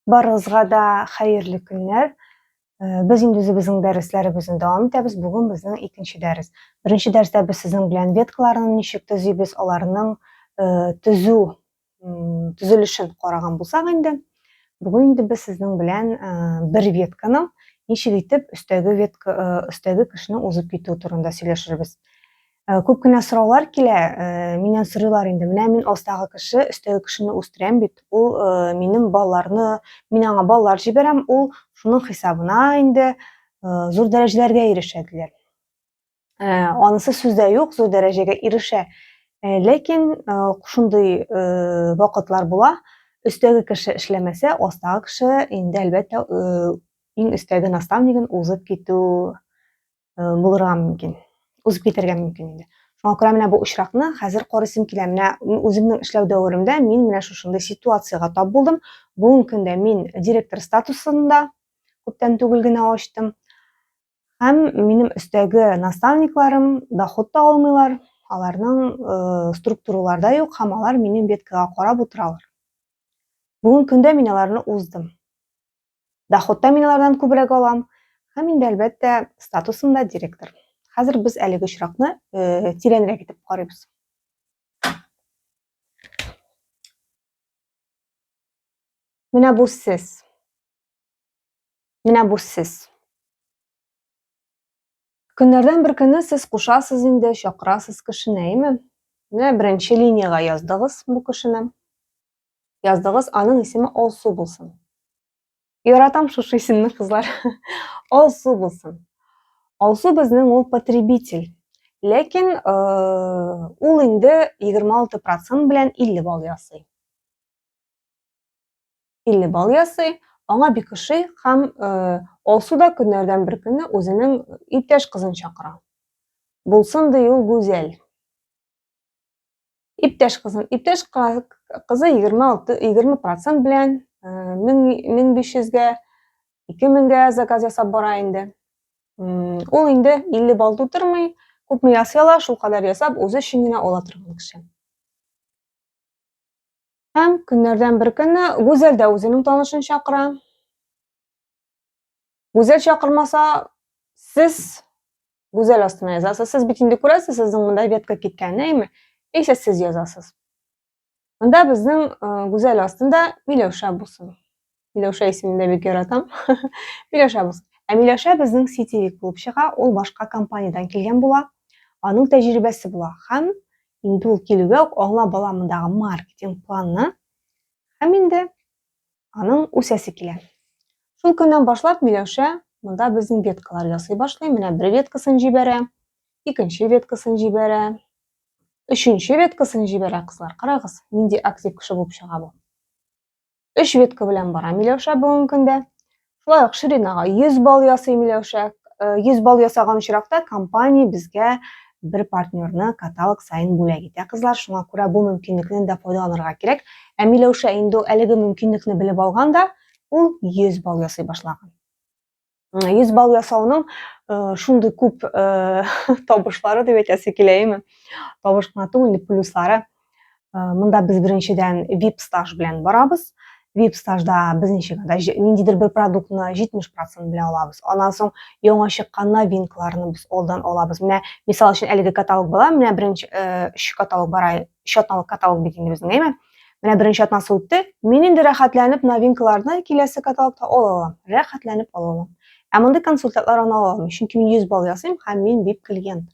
Барыгызга да хәерле көннәр. Э, без инде үзебезнең дәресләребезне дәвам итәбез. Бүген безнең икенче дәрес. Беренче дәрестә без сезнең белән веткаларны ничек төзибез, аларның э, төзү төзелешен караган булсак инде, бүген инде без сезнең белән бер ветканы ничек итеп өстәге ветка өстәге кешене узып китү турында сөйләшербез. Күп кенә сораулар килә, миннән сорыйлар инде. Менә мин астагы кеше, өстәге кешене үстерәм бит. Ул минем балаларны, мин аңа балалар җибәрәм, ул шуның хисабына инде зур дәрәҗәләргә ирешә диләр. Ә, анысы сүздә юк, зур дәрәҗәгә ирешә. Ә, ләкин ә, шундый ә, вакытлар була, өстәге кеше эшләмәсә, астагы кеше инде әлбәттә ә, иң өстәге наставнигын узып китү ә, булырга мөмкин. Узып китәргә мөмкин инде. Шуңа күрә менә бу очракны хәзер карыйсым килә. Менә үземнең эшләү дәверемдә мин менә шушындый ситуациягә тап булдым. Бүгенге көндә мин директор статусында күптән түгел генә ачтым. Һәм минем өстәге наставникларым доход та алмыйлар, аларның э, структураларда юк, һәм алар минем веткага карап утыралар. Бүгін көндә мин аларны уздым. Доходта мин алардан күбрәк алам, һәм инде әлбәттә статусымда директор. Хәзер без әлеге очракны э, тирәнрәк итеп карыйбыз. Менә бу сез. Менә бу сез. Көннәрдән бер көнне сез кушасыз инде, чакырасыз кешене, әйме? Менә беренче линиягә яздыгыз бу кешене. Яздыгыз, аның исеме Алсу булсын. Яратам шушы исемне, кызлар. Алсу булсын. Алсу безнең ул потребитель. Ләкин э, ул инде 26% белән 50 балл ясый. 50 бал ясый, аңа бик ошый һәм э, алсу да көннәрдән бер көнне үзенең иптәш кызын чакыра. Булсын ди ул гүзәл. Иптәш кызын, иптәш кызы 26 20 процент белән 1500-гә, э, 2000-гә заказ ясап бара инде. Ул инде 50 бал тутырмый, күпме ясый ала, шул кадәр ясап, үзе өчен генә ала торган кеше. Һәм көннәрдән бер көнне Гүзәл дә үзенең танышын чакыра. Гүзәл чакырмаса, сез Гүзәл астына язасыз. Сез бит инде күрәсез, сезнең монда ветка киткәнен, әйме? Исә сез язасыз. Монда безнең э, Гүзәл астында Миләүшә булсын. Миләүшә исемен дә бик яратам. Миләүшә булсын. Ә Миләүшә безнең сетевик булып чыга, ул башка компаниядән килгән була, аның тәҗрибәсе була һәм инде ул килүгә үк аңа баламындагы маркетинг планны һәм инде аның үсәсе килә. Шул көннән башлап Миләүшә монда безнең веткалар ясый башлый. Менә бер веткасын җибәрә, икенче веткасын җибәрә, өченче веткасын җибәрә, кызлар, карагыз, нинди актив кеше булып чыга бу. Өч ветка белән бара Миләүшә бүгенге көндә. Шулай ук Ширинага 100 балл ясый Миләүшә. 100 балл ясаган очракта компания безгә бер партнерны каталог сайын бүләк итә кызлар шуңа күрә бу мөмкинлекнен дә файдаланырга кирәк ә миләүшә инде әлеге мөмкинлекне белеп алган да ул 100 балл ясый башлаган Йөз бал ясауның э, шундый күп э, табышлары дип әйтәсе килә, әйме? Табыш кына түгел, плюслары. Э, монда без беренчедән VIP стаж белән барабыз. VIP стажда без ничек да ниндидер бер продуктны 70% белән алабыз. Аннан соң яңа чыккан новинкаларны без алдан алабыз. Менә мисал өчен әлеге каталог була, менә беренче 3 каталог бара өч атналык каталог бит инде безнең, әйме? Менә беренче атнасы үтте. Мин инде рәхәтләнеп новинкаларны киләсе каталогта ала алам. Рәхәтләнеп ала алам. Ә мондый консультатлар ана ала алмый, чөнки мин 100 балл ясыйм һәм мин VIP клиент.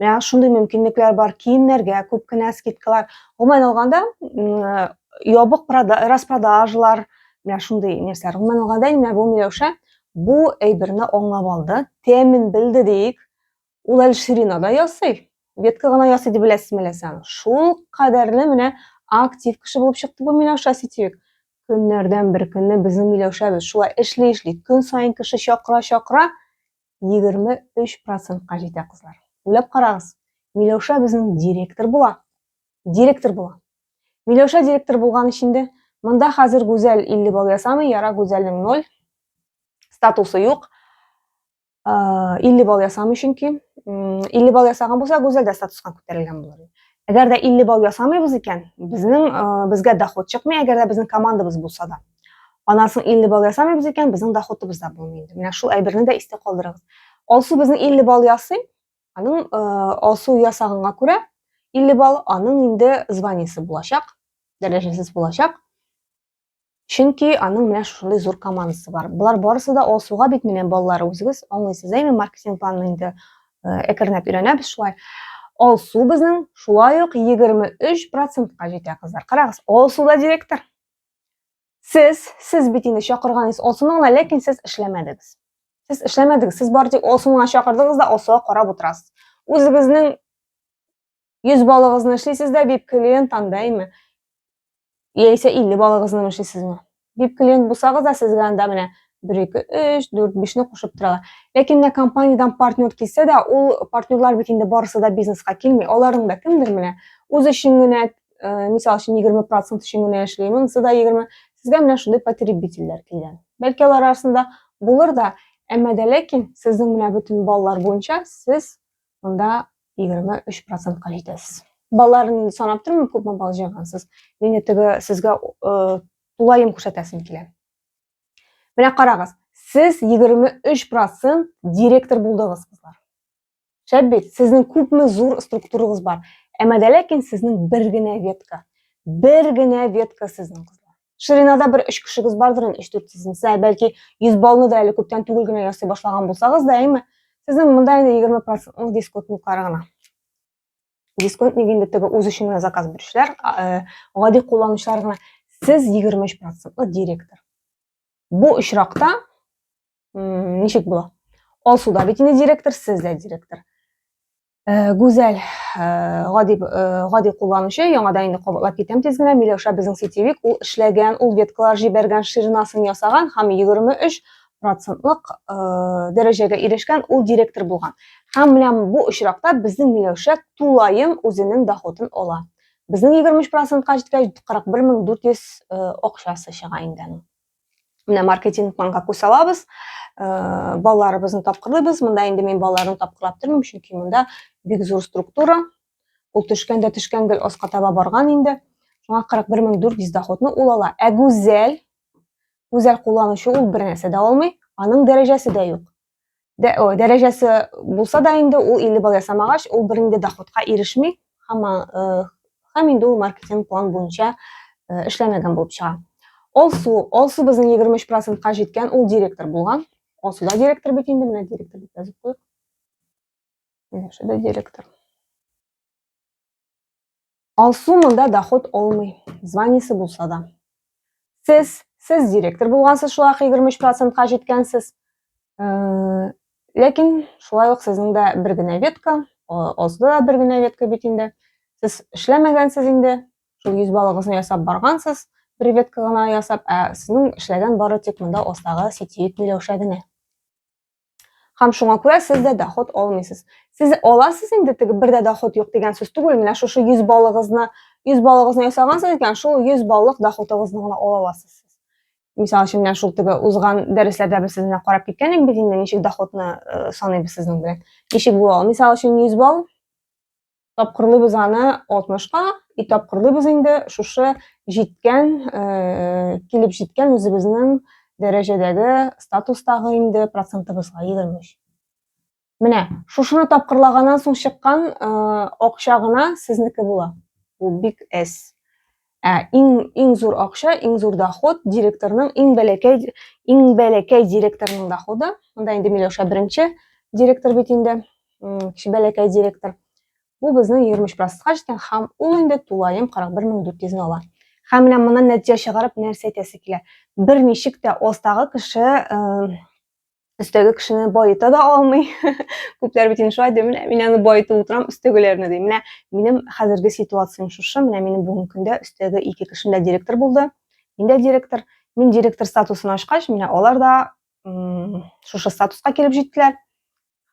Менә шундый мөмкинлекләр бар. Киемнәргә күп кенә скидкалар. Гомумән алганда, ябык распродажалар, менә шундый нәрсәләр. Гомумән алганда, менә бу Миләүшә бу әйберне аңлап алды, тәмен белде диик. Ул әле ширина да ясый, ветка гына ясый дип беләсезме әллә сез аны? Шул кадәрле менә актив кеше булып чыкты бу Миләүшә Ситюк. Көннәрдән бер көнне безнең Миләүшәбез шулай эшли-эшли, көн саен кеше чакыра-чакыра 23%-ка җитә кызлар. Уйлап карагыз, Миләүшә безнең директор була. Директор була. Миләүшә директор булган өчен дә монда хәзер Гүзәл 50 балл ясамый, Яра Гүзәлнең 0 статусы юк. 50 балл ясамый чөнки. 50 балл ясаган булса, Гүзәл дә статуска күтәрелгән булыр. Әгәр дә 50 балл ясамыйбыз икән, безнең безгә доход чыкмый, әгәр дә безнең командабыз булса да. Аннан соң 50 балл ясамыйбыз икән, безнең доходыбыз да булмый инде. Менә шул әйберне дә истә калдырыгыз. Алсу безнең 50 балл ясый, аның алсу ясаганга күрә 50 балл, аның инде званиесе булачак, дәрәҗәсез булачак. Чөнки аның менә шушындый зур командасы бар. Болар барысы да алсуга бит менә балалары үзегез аңлыйсыз әйме маркетинг планын инде әкренләп өйрәнәбез шулай. Алсу безнең шулай ук 23%-ка җитә кызлар. Карагыз, Алсу да директор. Сез, сез бит инде чакырганыгыз Алсуны гына, ләкин сез эшләмәдегез. Сез эшләмәдегез, сез бары тик Алсуны гына чакырдыгыз да Алсуга карап утырасыз. Үзегезнең 100 балыгызны эшлисез дә, VIP клиент андаймы? Яисә 50 балыгызны эшлисезме? VIP клиент булсагыз да сезгә анда менә 1 2 3 4 5 не кушып торалар. Ләкин менә компаниядән партнер килсә дә, ул партнерлар бит инде барысы да бизнеска килми. Аларның да кемдер менә үз өчен генә, э, мисал өчен 20% өчен генә эшли, монысы да 20. Сезгә менә шундый потребительләр килгән. Бәлки алар арасында булыр да, әмма дә ләкин сезнең менә бөтен баллар буенча сез Монда 23 процентка җитәсез. Балаларын инде санап тормыйм, күпме бал җыйгансыз. Мин теге сезгә э, тулаем күрсәтәсем килә. Менә карагыз, сез 23 процент директор булдыгыз, кызлар. Шәп бит, сезнең күпме зур структурагыз бар. Әмәдә ләкин сезнең бер генә ветка. Бер генә ветка сезнең кызлар. Ширинада бер өч кешегез бардыр инде, өч дүрт сезнең. Сез бәлки 100 баллны да әле күптән түгел генә ясый башлаган булсагыз да, әйме, сезнең монда инде 20% дисконтлыклары гына. Дисконт ник инде теге үз өчен генә заказ бирүчеләр, э, гади кулланучылар гына. Сез 23% директор. Бу очракта ничек була алсу да бит инде директор сез дә директор э, гүзәл э, гади э, гади кулланучы яңадан инде кабатлап китәм тиз генә миләүшә безнең сетевик ул эшләгән ул веткалар җибәргән ширнасын ясаган һәм 23 процентлык дәрәҗәгә ирешкән ул директор булган һәм менә бу очракта безнең миләүшә тулаем үзенең доходын ала безнең 23 процентка җиткәч 41 400 акчасы чыга инде менә маркетинг план как усалабыз э, балаларыбызны тапкырлыйбыз монда инде мин балаларны тапкырлап тормыйм чөнки монда бик зур структура ул төшкәндә төшкән гел аска таба барган инде шуңа 41400 доходны ул ала ә гүзәл гүзәл кулланучы ул бер нәрсә дә алмый аның дәрәҗәсе дә юк дә, о, дәрәҗәсе булса да инде ул 50 балл ясамагач, ул бер инде доходка ирешми, һәм, э, һәм инде ул маркетинг план буенча э, эшләмәгән булып чыга. Алсу, Алсу безнең 23 процентка җиткән, ул директор булган. Алсу да директор бит инде, менә директор дип язып куйыйк. Менә директор. Алсу монда доход алмый, званиесе булса да. Сез, сез директор булгансыз, шулай 23 процентка җиткәнсез. Э, ләкин шулай ук сезнең дә бер генә ветка, алсуда да бер генә ветка бит инде. Сез эшләмәгәнсез инде, шул 100 балыгызны ясап баргансыз, бер ветка гына ясап, ә сезнең эшләгән бары тик монда остагы сетевик миләүшә генә. һәм шуңа күрә сез дә доход алмыйсыз сез аласыз инде теге бер дә доход юк дигән сүз түгел менә шушы йөз баллыгызны йөз баллыгызны ясагансыз икән шул йөз баллык доходыгызны гына ала аласыз сез мисал өчен менә шул теге узган дәресләрдә без сезне карап киткән идек бит инде ничек доходны э, саныйбыз сезнең белән ничек була ул мисал өчен йөз балл тапкырлыйбыз аны 60-ка и тапкырлыйбыз инде шушы җиткән, э, килеп җиткән үзебезнең дәрәҗәдәге статустагы инде процентыбызга 23. Менә шушыны тапкырлаганнан соң чыккан э, акча гына сезнеке була. Бу бик әз. Ә иң иң зур акча, иң зур доход директорның иң бәләкәй иң бәләкәй директорның доходы. Монда инде Миләүшә беренче директор бит инде, кеше бәләкәй директор. Бу безнең 23 процентка җиткән һәм ул инде тулаем 41400 ала. Һәм менә моннан нәтиҗә чыгарып нәрсә әйтәсе килә? Бер ничек тә остагы кеше өстәге кешене баета да алмый. Күпләр бит инде шулай ди, менә мин аны баетып утырам, өстәгеләрне ди. Менә минем хәзерге ситуациям шушы, менә минем бүгенге көндә өстәге ике кешем дә директор булды. Мин дә директор. Мин директор статусын ашкач, менә алар да шушы статуска килеп җиттеләр.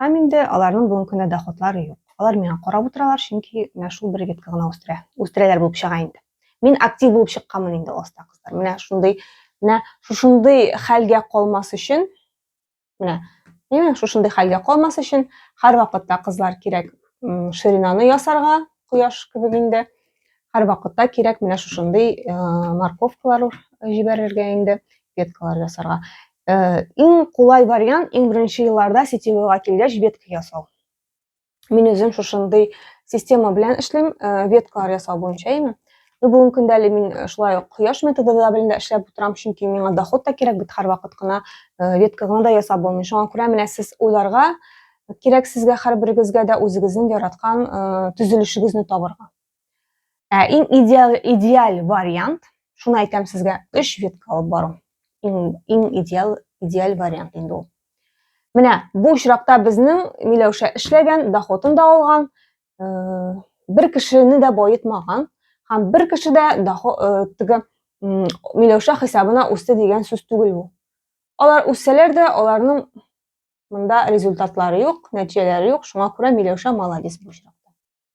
Һәм инде аларның бүгенге көндә доходлары юк. Алар миңа карап утыралар, чөнки менә шул бер ветка гына үстерә. Үстерәләр булып чыга инде. Мин актив булып чыкканмын инде оста кызлар. Менә шундый, менә шушындый хәлгә калмас өчен, менә, менә шушындый хәлгә калмас өчен һәр вакытта кызлар кирәк ширинаны ясарга, кояш кебек инде. Һәр вакытта кирәк менә шушындый э, морковкалар җибәрергә инде, веткалар ясарга. Э, иң кулай вариант, иң беренче елларда сетевойга килгәч ветка ясау. мин үзем шушындый система белән эшлим веткалар ясау буенча яме ну бүгенге көндә әле мин шулай ук кояш методы да белән дә эшләп утырам чөнки миңа доход та кирәк бит һәрвакыт кына ветка гына да ясап булмый шуңа күрә менә сез уйларга кирәк сезгә һәрберегезгә дә үзегезнең яраткан төзелешегезне табырга Ә иң идеаль, идеаль вариант, шуны әйтәм сезгә, өч витка алып бару. Иң, иң идеаль, идеаль вариант инде ул. Менә бу очракта безнең Миләүшә эшләгән, доходын да алган, э, бер кешене дә баетмаган һәм бер кеше дә э, теге Миләүшә хисабына үсте дигән сүз түгел бу. Алар үссәләр дә, аларның монда результатлары юк, нәтиҗәләре юк, шуңа күрә Миләүшә молодец бу очракта.